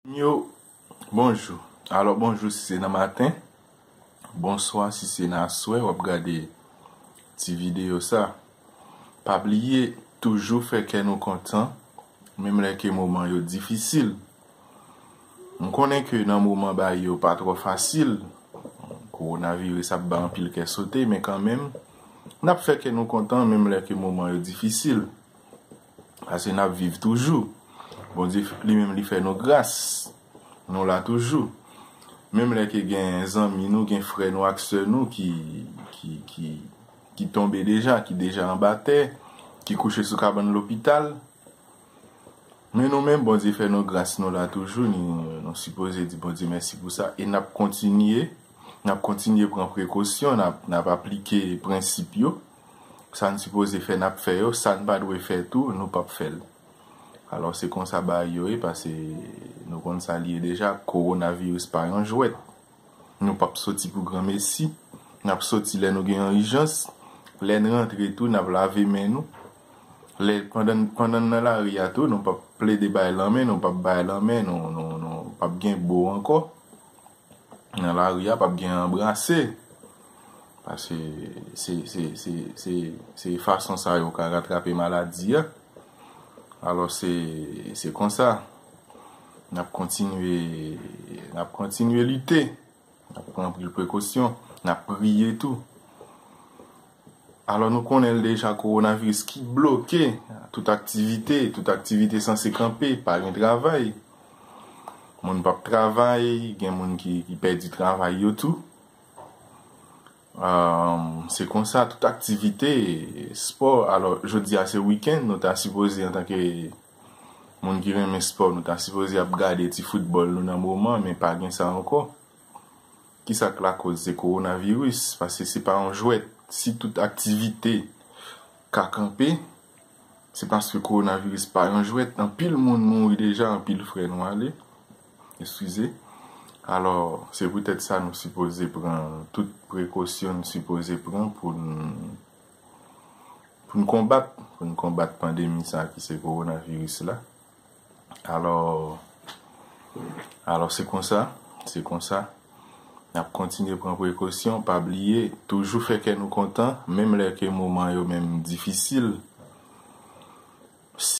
Moun yo, bonjou. Alò bonjou si se nan maten, bonswa si se nan aswè wap gade ti videyo sa. Pa bliye toujou fè kè nou kontan menm lè ke moman yo difisil. M konnen ke nan moman baye yo pa twò fasil, kowonaviris ap bay anpil kè sote men kanmenm nap fè kè nou kontan menm lè ke moman yo difisil. Pase nap viv toujou. Bondye li menm li fè nou gras. Nou la toujou. Menm lè ke gen zanmi nou, gen frè nou ak sè nou ki ki ki tonbe deja, ki deja anba tè, ki kouche sou kabann lopital. Men nou menm Bondye fè nou gras nou la toujou ni nou sipoze di Bondye mèsi pou sa e nap kontinye nap kontinye pran prekosyon nap nap aplike prensip yo. Sa n sipoze fè n ap fè yo, sa n pa dwe fè tou nou p ap fè l. Alò se konsa bagay yo ye pase nou konn sa li ye deja, kowonaviris pa yon jwèt. Nou p ap soti pou granmesi, n ap soti lè nou gen yon ijans, lè n rantre tou n ap lave men nou, lè pandan n nan lari a tou nou p ap plede bay lanmen, nou p ap bay lanmen, nou p ap gen bo ankò. Nan lari a pap gen anbrase. Pase se fason sa yo ka ratrape maladi a. Alo se konsa. Nap kontinye lite. Nap pran anpil prekosyon. Nap priye tou. Alò nou konnen l deja kowonaviris ki bloke tout aktivite, tout aktivite sanse kanpe, pa gen travay, moun pap travay, gen moun ki pèdi travay yo tou. Se konsa tout aktivite, spò, alò jodi a se wikenn nou ta sipoze antanke moun ki renmen spò nou ta sipoze ap gade ti foutbòl nou nan moman men pa gen sa ankò. Kisa k lakoz se kowonaviris, paske se pa yon jwèt, si tout aktivite ka kanpe, se paske kowonaviris pa yon jwèt, anpil moun mouri deja, anpil frè nou ale, eskize, alò se poutèt sa nou sipoze pran tout prekosyon n sipoze pran pou n pou n konbat, pou n konbat pandemi sa ki se kowonaviris la. Alò, alò se konsa, se konsa. N ap kontinye pran prekosyon, pa bliye, toujou fè kè nou kontan, menm lè ke moman yo menm difisil.